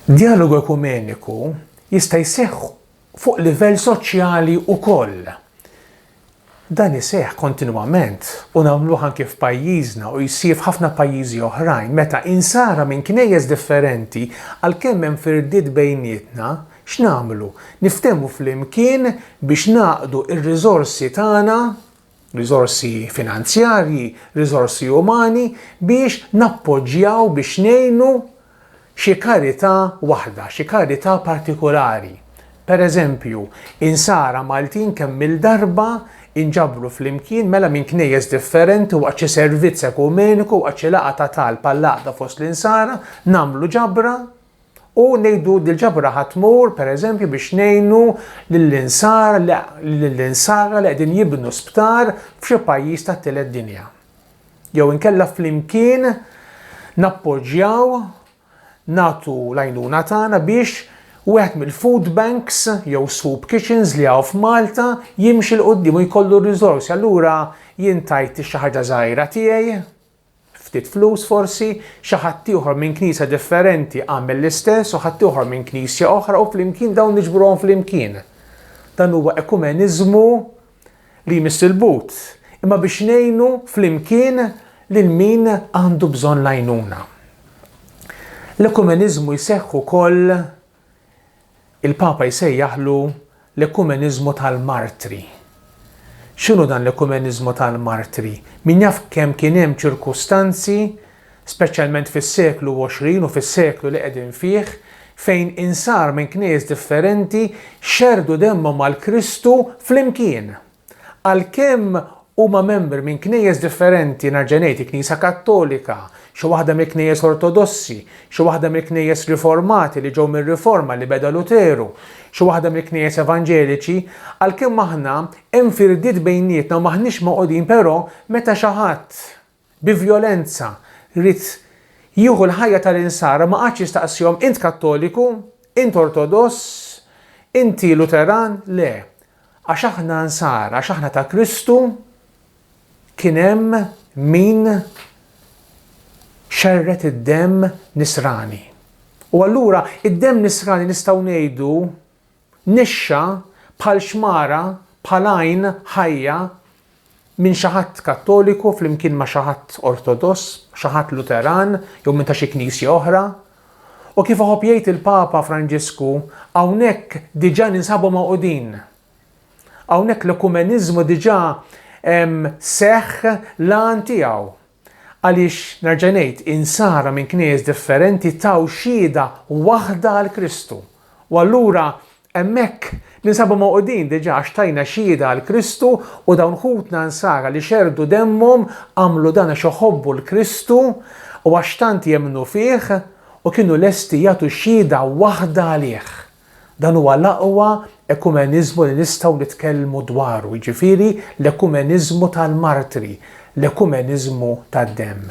Djalogu ekumeniku jista' jseħħ fuq livell soċjali wkoll. Dan iseħħ kontinwament u nagħmluh anki f'pajjiżna u jsir f'ħafna pajjiżi oħrajn meta Insara minn knejjes differenti għalkemm hemm firdiet bejnietna, x'nagħmlu? Niftehmu flimkien biex ngħaqqdu r-riżorsi tagħna? riżorsi finanzjarji, riżorsi umani biex nappoġġjaw, biex ngħinu xi karità waħda, xi karità partikulari. Pereżempju, insara Maltin kemm-il darba inġabru flimkien mela minn knejjes differenti waqt xi servizz ekumeniku, waqt xi laqgħa ta' talb għall-għaqda fost l-insara, nagħmlu ġabra, U ngħidu li l-ġabra ħa tmur, pereżempju, biex ngħinu lill-insara li qegħdin jibnu sptar f'xi pajjiż tat-tielet dinja. Jew inkella flimkien nappoġġjaw, nagħtu l-għajnuna tagħna biex wieħed mill-food banks jew soup kitchens li hawn f'Malta jimxi 'l quddiem u jkollu r-riżorsi. Allura jien tajt xi ħaġa żgħira tiegħi, ftit flus forsi, xi ħadd ieħor minn knisja differenti għamel l-istess u ħadd ieħor minn knisja oħra u flimkien dawn niġbruhom flimkien. Dan huwa ekumeniżmu li jmiss il-but, imma biex ngħinu flimkien lil min għandu bżonn l-għajnuna. L-ekumeniżmu jseħħ ukoll Il-Papa jsejjaħlu l-ekumeniżmu tal-martri. X'inhu dan l-ekumeniżmu tal-martri? Min jaf kemm kien hemm ċirkustanzi, speċjalment fis-seklu 20 u fis-seklu li qegħdin fih, fejn insar minn knejjes differenti xerrdu demmhom għal Kristu flimkien! Għalkemm huma membri minn knejjes differenti, nerġa' ngħid, il-Knisja Kattolika, xi waħda mill-knejjes Ortodossi, xi waħda mill-knejjes Riformati li ġew mir-Riforma li beda Luteru, xi waħda mill-knejjes Evanġeliċi, għalkemm aħna hemm firdiet bejnietna u m'aħniex magħqudin però meta xi ħadd, bi vjolenza ried jieħu l-ħajja tal-Insara ma qagħadx jistaqsihom int Kattoliku? Int Ortodoss? Inti Luteran? Le. Għax aħna Nsara, għax aħna ta' Kristu, kien hemm min xerred id-demm Nisrani. U allura id-demm Nisrani nistgħu ngħidu Nixxa bħal xmara, bħal għajn ħajja minn xi ħadd Kattoliku flimkien ma' xi ħadd Ortodoss, xi ħadd Luteran jew minn ta' xi knisja oħra. U kif iħobb jgħid il-Papa Franġisku, hawnhekk diġà ninsabu magħqudin. Hawnhekk l-ekumeniżmu diġà seħħ l-għan tiegħu. Għaliex, nerġa' ngħid, Insara minn Knejjes differenti taw xhieda waħda għal Kristu. U allura hemmhekk ninsabu mogħqudin diġà għax tajna xhieda għal Kristu u dawn ħutna Insara li xerrdu demmhom għamlu dan għax iħobbu 'l Kristu u għax tant jemmnu fih u kienu lesti jagħtu xhieda waħda għalih. Dan huwa l-aqwa ekumeniżmu li nistgħu nitkellmu dwaru, jiġifieri l-ekumeniżmu tal-martri, l-ekumeniżmu tad-demm.